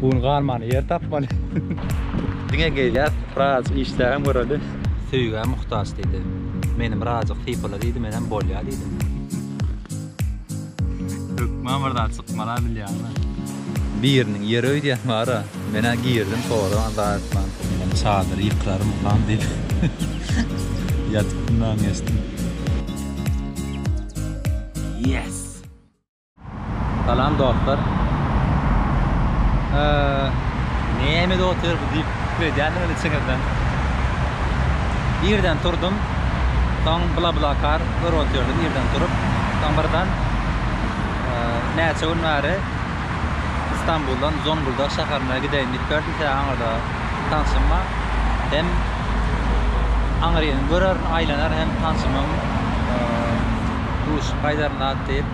Bugün galmany yer tapmaly. Diňe gelýär, Razyk işde hem göreli. Söýgä muhtaç diýdi. Menem Razyk sypala diýdi, menem bolýa diýdim. Hökman bir zat çykmala bilýäňmi? Biriniň ýeri öýdýän bar-a. Menä girdim, soradan azar etmän. Menem çadyry ýykrarymkam diýip ýatyp dynlanyp geçdim. Yes! Salam dostlar. Näme otyr bu diýip pikir edýändirin içiňizden. Irden turdum. Soň bla bla kar görüp otyrdym irden turup. Soň birden näçe gün bäri Istanbuldan Zonguldak şäherine gideýin diýip gördüm. Sebäbi aňyrda tanşym bar. Hem aňyryn görerin, aýlanar hem tanşymyň duşup gaýdaryn zat diýip.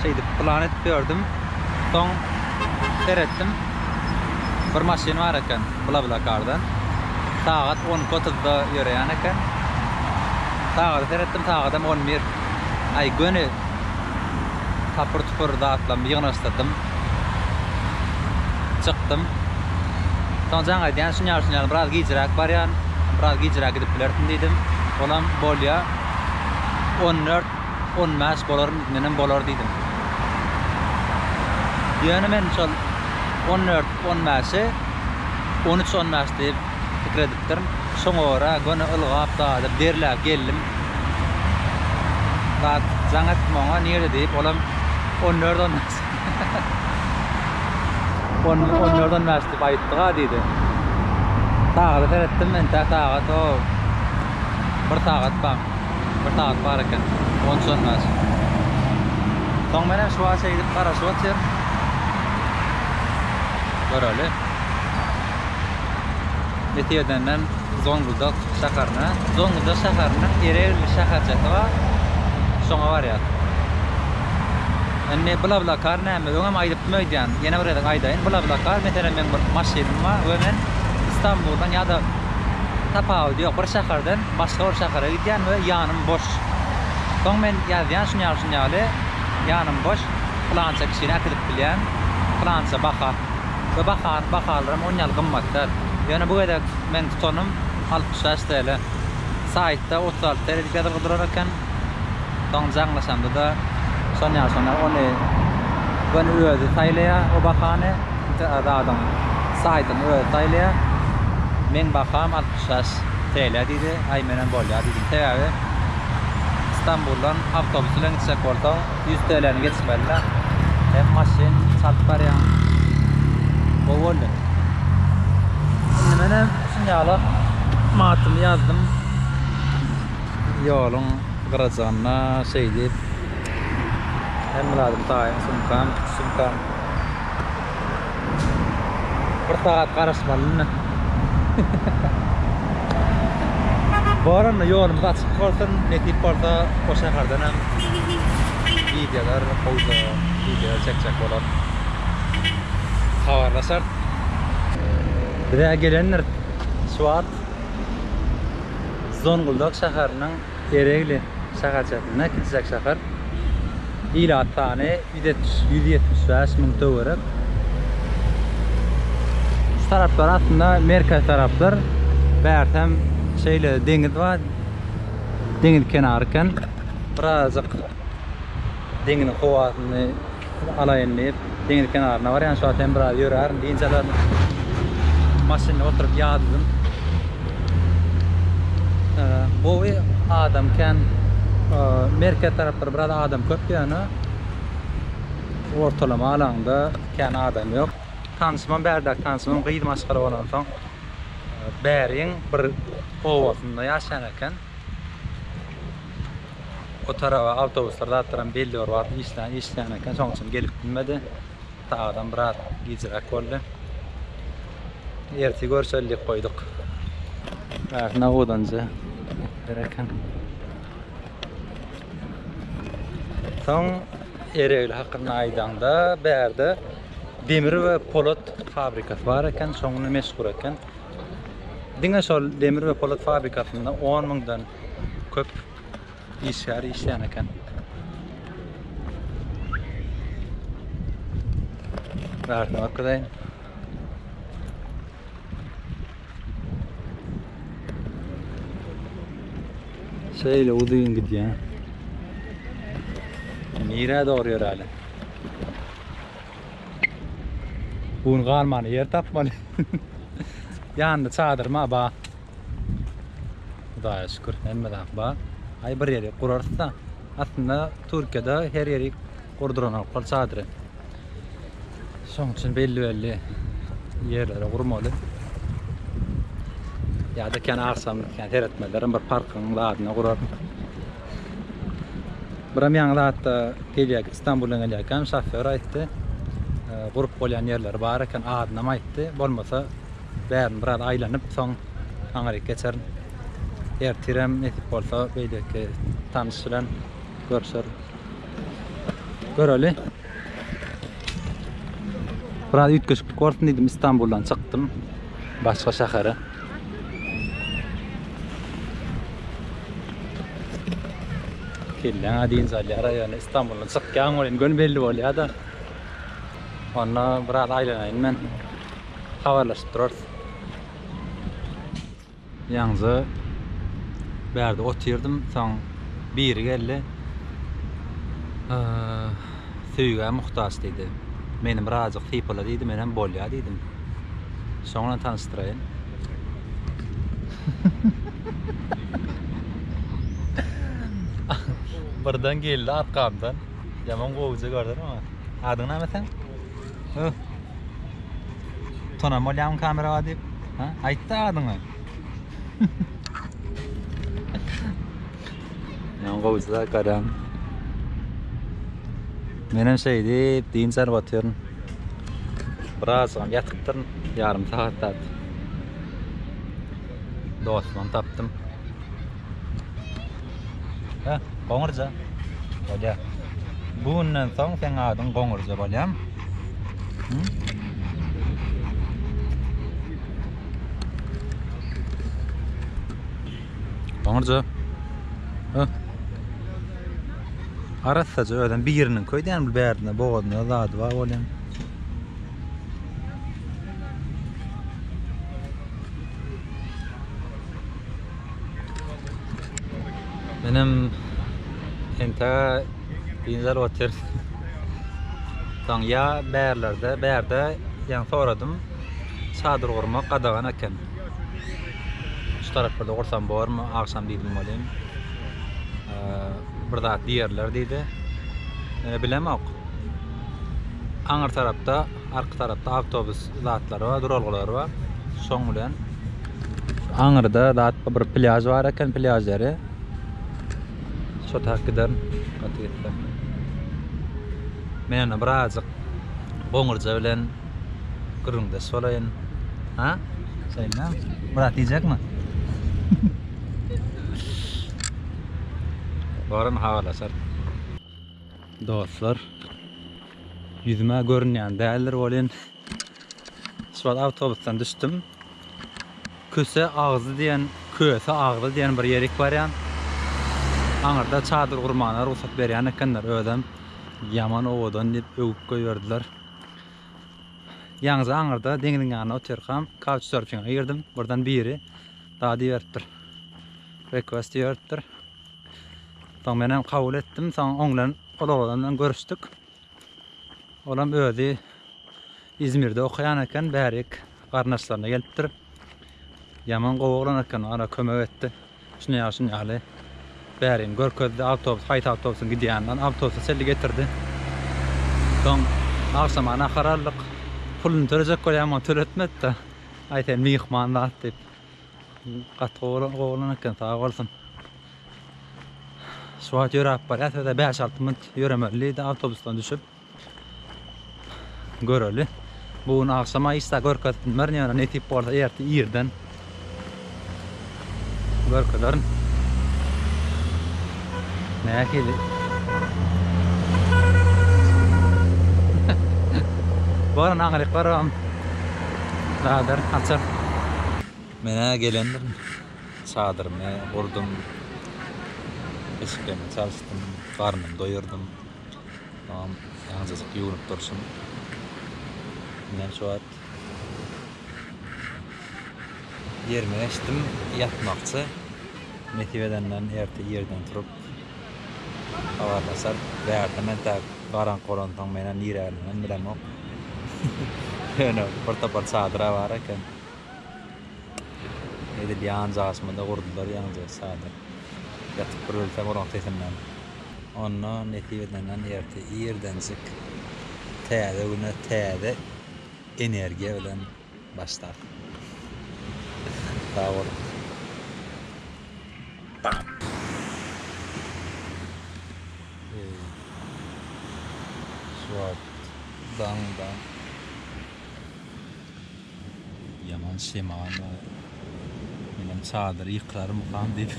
Şeýdip plan edip ýördüm. Soň seretdim. Bir maşyn bar eken BlaBlaCar'dan. Sagat 12.30-da ýöreýän eken. Sagada seretdim, sagadam 11. Aý, göni tapyr-tupur zatlarymy ýygnaşdyrdym. Çykdym. Soň jaň aýdýan, şunýaly-şunýaly biraz gijräk barýan, biraz gijräk gidip bilersiň diýdim. Olam bolýa. 14. On bäş bolaryn, menem bolar diýdim. Ýöne men şol on dört, on bäşi on üç, on bäş diýip pikir edipdirin. Şoňa görä göni ylgap daýyp, derläp geldim. Zat jaň etdim oňa, nirede diýip, olam on dört, on bäş. On dört, on bäş diýip aýtdyga diýdi. Sagada seretdim, entäk sagat o bir sagat bar. Bir sagat bar eken. On üç-on bäş. Soň menem şu wagt şeýdip garaşyp otyr. Göreli. Nesip edenden Zongudak şäherine. Zongudak şäheriniň Eregli şäherçesi bar. Şoňa barýas. Indi BlaBlaCar näme? Öňem aýdypdym öýdýän. Ýene bir gezek aýdaýyn. BlaBlaCar, meselem, meň bir maşynym bar we men Stambuldan ýa-da tapawudy ýok, bir şäherden Başga bir şähere gidýän we ýanym boş. Soň men ýazýan şunýaly-şunýaly, ýanym boş, pylança kişini äkidip bilýän, pylança baha. We bahany, bahalaram on ýaly gymmat däl. Ýöne bu gezek meň tutanym altmyş bäş TL. Saýtda otuz alty TL diýip ýazylgy durar eken. Soň jaňlaşanda-da şonýa şonýa ony göni özi saýlaýar o bahany. Zadyň saýtyny özi saýlaýar. Meň baham altmyş bäş TL diýdi. Aý menem bolýar diýdim. Sebäbi Stambuldan awtobus bilen gitjek bolsaň ýüz TL-ni geçmeli-le. Hem maşyn çalyp barýaň. Gowy boldy. Indi menem şuny alyp matymy ýazdym. Ýoluň gyrajygynda şeýdip, hemme zadymy taýyn, sumkam, sumkam. Bir sagat garaşmaly indi. Baranda ýolumyz açyk bolsun, nesip bolsa o şäherden hem wideolar, howza wideolar çekjek bolar. Habarlaşarys. Biz-ä gelendiris şu wagt. Zonguldak şäheriniň Eregli şäherçesinde kiçijek şäher. Ilat sany ýüz ýetmiş bäş müň töwerek. Şu taraplar aslynda merkez tarapdyr. Bärtem şeýle deňiz bar. Deňiz kenary eken. Birazajyk deňiziň howasyny Pul alaýyn diýip, deňiz kenaryna barýan. Şu wagt hem biraz ýörärin, dynç alaryn. Maşynda oturyp ýadadym. Gowy adam kän. Merkez taraplar biraz adam köp ýöne ortalama alaňda kän adam ýok. Tanyşymam bärde, tanyşymam gyz maşgala bolansoň bäriň bir obasynda ýaşaýan eken. O taraba awtobuslar zatlaram belli bir wagt işlän işlän eken şoň üçin gelip bilmedi. Sagadam biraz gijräk boldy. Erti görüşeli diýip goýduk. Biraz nawudanja gereken. Soň Eregli hakynda aýdaňda, bärde demir we polat fabrikasy bar eken, şoňly meşhur eken. Diňe şol demir we polat fabrikasynda 10 müňden köp işgär işleýän eken. Bärsine bakdaýyn. Şeýle uzyn gidýär. Nirä dogry ýöräli? Bugün galmany ýer tapmaly. Ýanynda çadyr ma ba? Hudaýa şükür, hemme zat bar. Aý bir ýeri gurarys-da. Aslynda Türkiýede her ýeri gurduranoklar çadyry. Şoň üçin belli-belli ýerlere gurmaly. Ýa-da kän agşam kän seretmezlerem bir parkyň zadyna gurar. Biram ýaňy zatda gelýär, Istanbuldan gelýärkäm şofýor aýtdy. Gurup bolýan ýerleri bar eken, adynam aýtdy. Bolmasa Bärini biraz aýlanyp, soň aňryk geçerin. Ertirem nesip bolsa beýleki tanyş bilen görüşerin. Göreli. Biraz üýtgeşiklik bolsun diýdim, Istanbuldan çykdym. Başga şähere. Kelläňe diýinç alýar, ýöne Istanbuldan çykýan welin göni belli bolýar-da. Onda biraz aýlanaýyn men. habarlaşyp durarys. Ýaňyja bärde otyrdym, soň biri geldi. Söýgä muhtaç diýdi. Meni birazjyk sypala diýdi, men hem bolýa diýdim. Şoň bilen tanyşdyraýyn. Birden geldi arkamdan. Ýaman gowja gördüm oňa. Adyň näme seň? Öh. Tunan bolýarmy kamera bar diýip? Ha? Aýtdy adyňy. Ýan gowusyda garam. Men hem şeý diýip dynç alyp otyryn. Biraz soň ýatypdyryn, ýarym sagat zat. Dostum tapdym. Hä, goňurja. Bolýa. Bu günden soň seň adyň goňurja bolýam. Hı? Goňurja. Hä? Arassaja özüm biriniň köýdän bir bärdine bogazyna zady bar bolýan. Menem enta bizler otyr. Soň ya bärlerde, bärde ýa soradym. Çadyr gurmak gadagan eken. Şu taraplarda gursam bormy? Agşam diýdim welin. Bir zat diýerler diýdi. Mene bilemok. Aňyr tarapda Arka tarapda awtobus zatlary bar, duralgalary bar. Şoň bilen şu aňyrda zat bir plýaž bar eken, plýaž ýeri. Şo tarap giderin, gaty gitse. Men indi birazajyk goňurja bilen gürrüňdeş bolaýyn. Ha? Şeýdem. Myrat iýjekmi? Baran habarlaşarys. Dostlar. Ýüzüm-ä görünýän däldir welin, şu wagt awtobusdan düşdüm. Köse agzy diýen, Köse agzy diýen bir ýerik barýan. Aňyrda çadyr gurmana rugsat berýän ekenler, özem ýaman owadan diýip öwüp goýberdiler. Ýaňja aňyrda deňziň ýanynda otyrkam, Couchsurfinga girdim, birden biri dagy diýiberipdir, Request diýiberipdir. Soň menem kabul etdim. Soň oň bilen ol oglan bilen görüşdük. Olam özi İzmirde okaýan eken, bärik garyndaşlaryna gelipdir. Ýaman gowy oglan eken, ana kömek etdi. Şuny ýa şuny ýaly. Bärini görkezdi, awtobus, haýsy awtobusyň gidýänini, awtobusy çenli getirdi. Soň agşama nahar aldyk. Puluny tölejek bolýan, töletmedi-de. Aý sen myhman zat diýip. Gaty gowy oglan gowy oglan eken sag bolsun. Şu wagt ýöräp barýas ýa-da 5-6 minut ýöremeli diýdi awtobusdan düşüp. Göreli. Bu gün agşama işde görkezip bilmerin ýöne nesip bolsa erti irden görkezerin. Nähili? Baran aňryk barabam zadar açar. Men-ä gelendirin. Çadyrymy gurdum. Eşiklerimi çalyşdym. Garnymy doýurdym. Agam azajyk ýuwnup durşum. Näçe wagt? Ýerime geçdim, ýatmakçy. Nesip edenden erte ýerden turup habarlaşar. Bärde men tä garaňky bolansoň men hem niräligini bilemok. Ýöne bir topar çadyra bar eken. Edil ýanjy asmada gurdular ýaňja çadyr. Ýatyp bir ölsem olaň sesinden. Onda nesip edenden erte irdenjik täze güne täze energiýa bilen başlar. Sag boluň. Eý, şu wagt daň-daň. Ýaman şemal bar. Menem çadyry ýykrarmykam diýip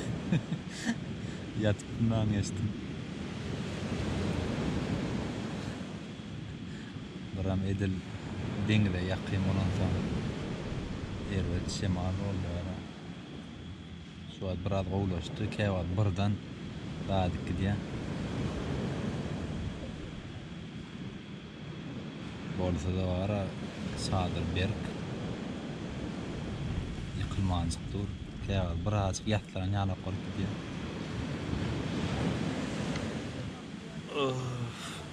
ýatyp mundan geçdim. Buram edil deňize ýakyn bolansoň erbet şemal boldy gara. Şu wagt biraz gowulaşdy, käwagt birden gaýdyp gidýär. Bolsada bara çadyr berk ýykylmanjyk dur. Käwagt birazjyk ýaslan ýanok bolup gidýär.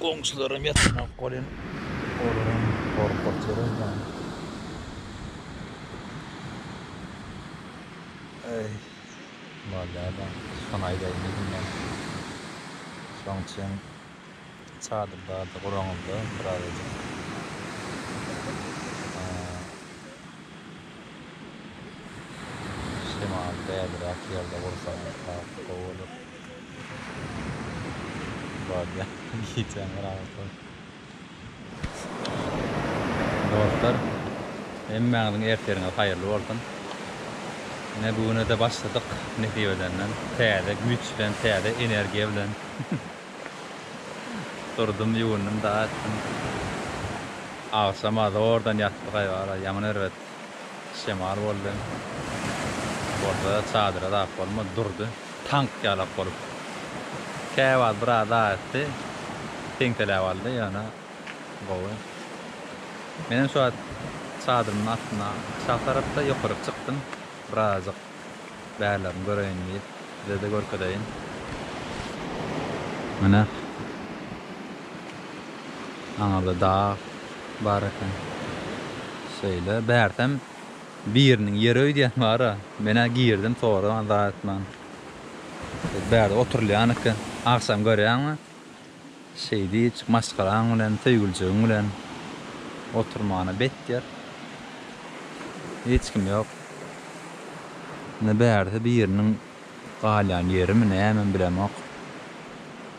Goňşularam ýatanok welin, olaram gorkup ýörüň ýaly. Eý, bolýar-da, şony aýdaýyn diýdim men. Şoň üçin. Çadyr bardy guraňyzda birazajyk. Şemal bäliräk ýerde gursaňyz has gowy bolar. Bardy gijäň bir agyr toý. Dostlar, hemmäňiziň ertiriňiz haýyrly bolsun. Ine bu güne-de başladyk nesip edenden. Täze güýç bilen, täze energiýa bilen. Durdum, ýuwundym, dagy etdim. Agşama zordan ýatdyk aýbara. Ýaman erbet şemal boldy. Bolsa çadyra zap bolmady, durdy. Tank ýalak bolup. Käwagt biraz dagy etdi. Teňseläp aldy, ýöne gowy. Menem şu wagt çadyrymyň astyna aşak tarapda, ýokaryk çykdym. Birazajyk. bärlerini göreýin diýip sizede görkezeýin. Mine aňyrda dag bar eken. Şeýle bärsem biriniň ýeri öýdýän bara. Menä girdim soraman zat etmän. Bärde oturylýan eken. Agşam görýäňmi? Şeýdip, maşgalaň bilen, söýgülijigiň bilen oturmana bet ýer, hiç kim ýok. Indi bärde biriniň galýan ýerimi, nämemi bilemok.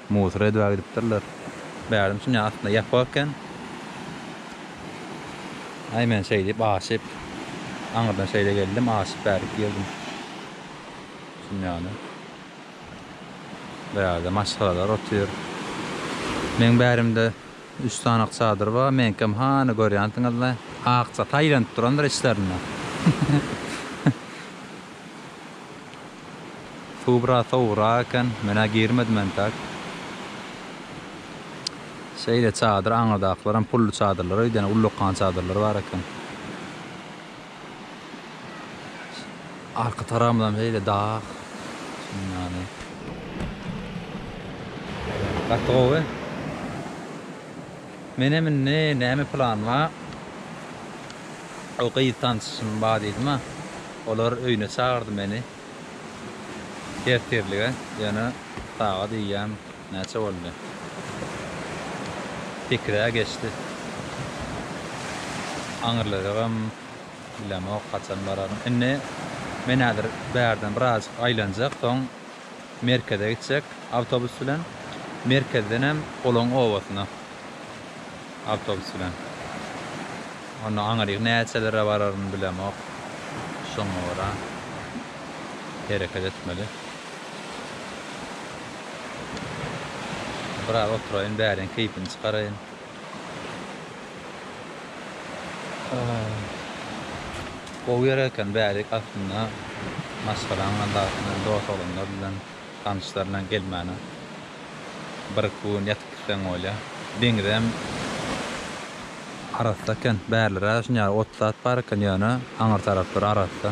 Musor edibä gidipdirler. Bärdem şuny aslynda ýapyk eken. Aý, men şeýdip aşyp, aňyrdan şeýle geldim, aşyp bärik girdim. Şunýaly. Bu ýerde maşgalalar otyr. Meň bärimde üç sanak çadyr bar. Meňkem hany görýänsiňiz-le. Akjata aýlanyp durandyr içlerinde. Suw biraz sowugrak eken. Men-ä girmedim entek. Şeýle çadyr aňyrdakylaram pully çadyrlar öýdýän, ullakan çadyrlar bar eken. Arka tarabymyzam şeýle dag. Şundan. Gaty gowy. Menem indi näme plan bar? O gyz tanşym bar diýdim-ä. Olar öýüne çagyrdy meni. Ertirlige ýöne sagat eýýäm. Näçe boldy? Sekiz-ä geçdi. Aňyrlajagam bilemok, haçan bararyn. Indi men häzir bärden birazjyk aýlanjak, soň merkeze gitjek awtobus bilen. Merkezdenem olaň obasyna awtobus bilen. Onda aňryk näçelere bararyn bilemok. Şoňa görä hereket etmeli. Biraz oturaýyn, bäriň keýpini çykaraýyn. Gowy ýer eken, bärik aslynda maşgalaň adaty bilen, dost-oglanlar bilen, tanyşlar bilen gelmäne bir-iki gün ýatyp gitseň bolýa. Deňizem arassa eken, bärlere şuny ýaly ot-sat bar eken, ýöne aňyr taraplar arassa.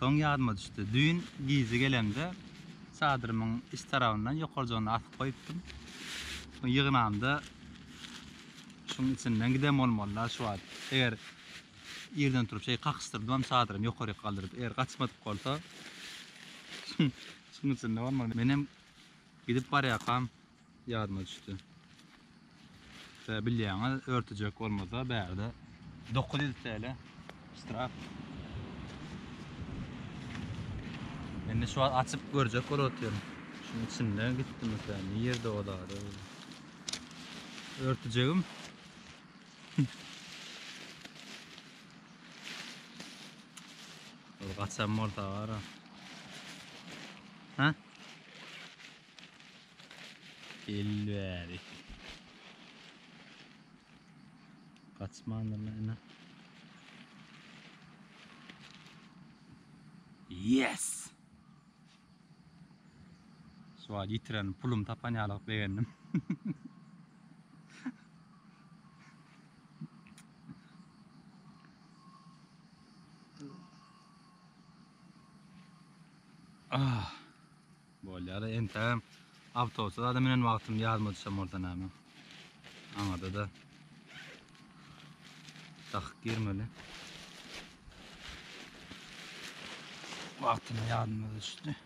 Soň ýadyma düşdi. Düýn gije gelemde çadyrymyň iç tarabyndan ýokarjygyny asyp goýupdym. Soň ýygnamda şuň içinden giden bolmaly-la şu wagt. Eger irden turup şeý kakyşdyrdymam çadyrymy ýokaryk galdyryp. Eger gaçmadyk bolsa şuň içinde bolmaly. Menem gidip barýarkam. Ýadyma düşdi. Şä bilýäňiz, örtüjek bolmasa bärde 900 TL ştraf. Indi şu wagt açyp görjek bolup otyryn. Şunuň içinde gitdi mesela, nirde o zady? Örtüjegim. Ol gaçan bolsa gara. Ha? Gel bäri. Kaçmandyr näme? Yes! Şu wagt ýitiren pulum tapan ýalyk begendim. Ah! Bolýar-a entägem. Awtobusa zada münen wagtym ýadyma düşen bolsa näme. Aňada-da dakyk girmeli. Wagtyna ýadyma düşdi.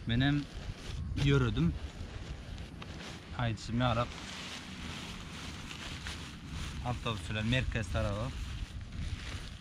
Menem ýöredim. Aýdyşym ýaly awtobus bilen merkez taraba.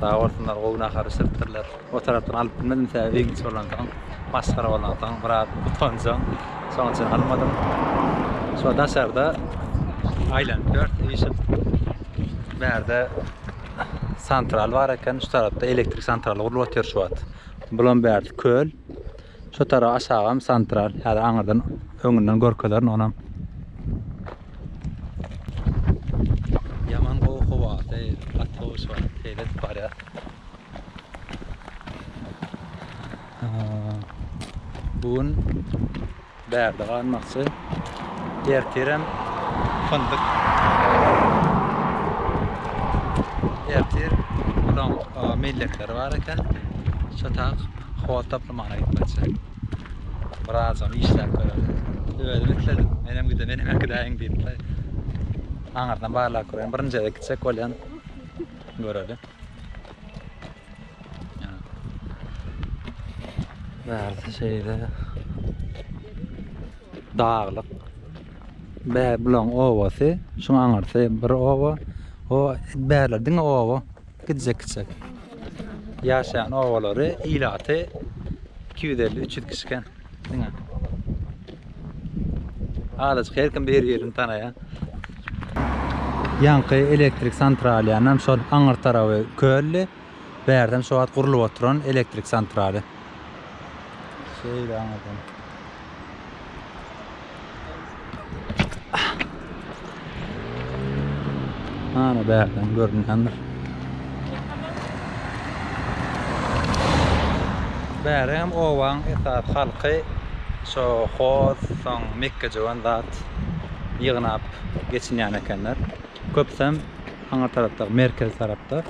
Sag bolsunlar gowy nahar bişiripdirler. O tarapdan alyp bilmedim sebäbi öýüň içi bolansoň masgara bolansoň biraz utanjam şoň üçin almadym. Şu daşarda aýlanyp ýörüs işip. Bärde santral bar eken şu tarapda elektrik santraly gurlup otyr şu wagt. Bulam bärsi köl. Şu tarap aşagam santral. Häzir aňyrdan öňünden görkezerin onam. Yaman gowy howasy, gaty gowy şu wagt seýil edip barýas. Bu gün bärde galmakçy. Ertirem fındyk. Ertir ulan millekleri bar eken. Şatak howa toplamana gitmekçi. Biraz onu işläp görelim. Özüm isledim. Menem gide, menem akidäýin diýip. Aňyrdan barlap görelim. Birinji gezek gitsek bolýan. Görelim. Bärde şeýle daglyk. Bär bulan owasy, şuň aňyrsy bir owa. O bärler diňe owa. Gitjek-gitjek ýaşaýan obalary, ilaty iki ýüz elli, üç ýüz kişi eken diňe. Azajyk her kim bir-birini tanaýar. Ýaňky elektrik santralýanam şol aňyr tarapy köldi. Bärden şu wagt gurlup oturan elektrik santraly. Şeýle aňyrdan. Ana bärden görünýändir. Bäri hem owaň esas halky şo hoz, soň mekgejöwen zat ýygnap geçinýän ekenler. Köpüsem aňyr tarapda, merkez tarapda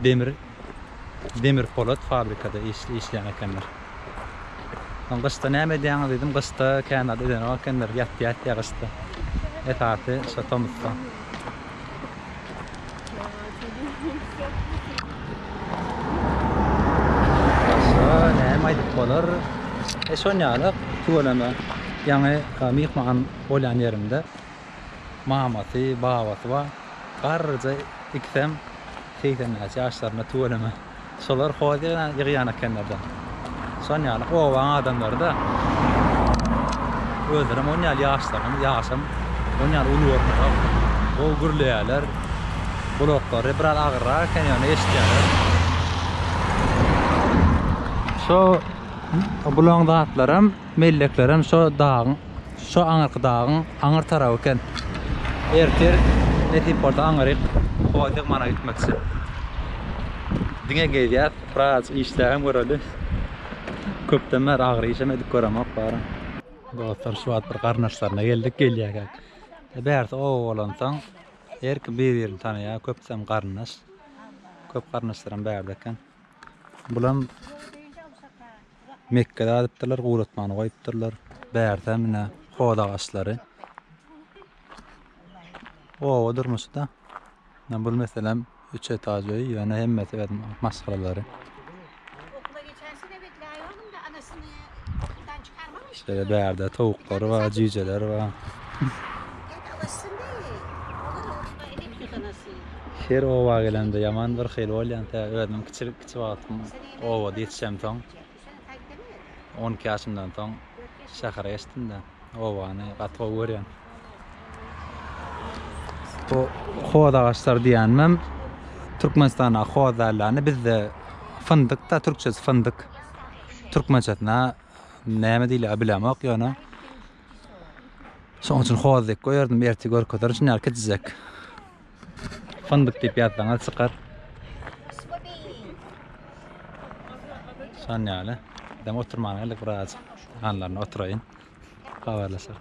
demir Demir polat fabrikada işleýän ekenler. Soň gyşda näme edýäňiz diýdim. Gyşda kän zat edenok ekenler. Ýat ýatýa gyşda. Esasy şo tomusda. Başga näme aýdyp bolar? E şonýaly tüweleme ýaňy myhman bolýan ýerimde mamasy, babasy bar. Garryja ikisem Segsen bäş ýaşlarynda tüweleme şolar hoziýa ýygýan ekenlerda. Şon ýaly obaň adamlary-da özlerem on ýaly ýaşlarynyň ýaşam on ýaly uly görnüp gowy gürleýärler. Gulaklary biraz agyrrak eken ýöne eşitýärler. Şo bulaň zatlaram Melleklerem şo dagyň, şo aňyrky dagyň aňyr taraby eken. Ertir nesip bolsa aňyryk Howatygmana gitmekçi. Diňe gezýäs, wraç işlägem göreli. Köpden bäri agyr işem edip göremok bary. Dostlar şu wagt bir garyndaşlaryna geldik gelýärkäk. Bärsi oba bolansoň her kim bir-birini tanaýar, köpüsem garyndaş. Köp garyndaşlaram bärde eken. Bulam Mekge adypdyrlar, guratmany goýupdyrlar. Bärde mine hoz agaçlary. Oba durmuşda. Men bul meselem üç etaj öý, ýöne hemmesi özüm maşgalalary. Şeýle bärde towuklar bar, jüýjeler bar. Her oba gelemde ýaman bir hili bolýan tä özüm kiçilik kiçi wagtym obada ýetişemsoň. On iki ýaşymdan soň şähere geçdimde. Obany gaty gowy görýän. Bu hoz agaçlar diýenmem Türkmenistanda hoz dällany bizde fyndyk da türkçesi fyndyk. Türkmençesine näme diýilýär bilemok ýöne. Şoň üçin hoz diýip goýardym, erti görkezerin şuny ýaly kiçijek. Fyndyk diýip ýazsaňyz çykar. Şan ýaly. Dem oturmana geldik birazajyk. Hanlaryna oturaýyn. Habarlaşar.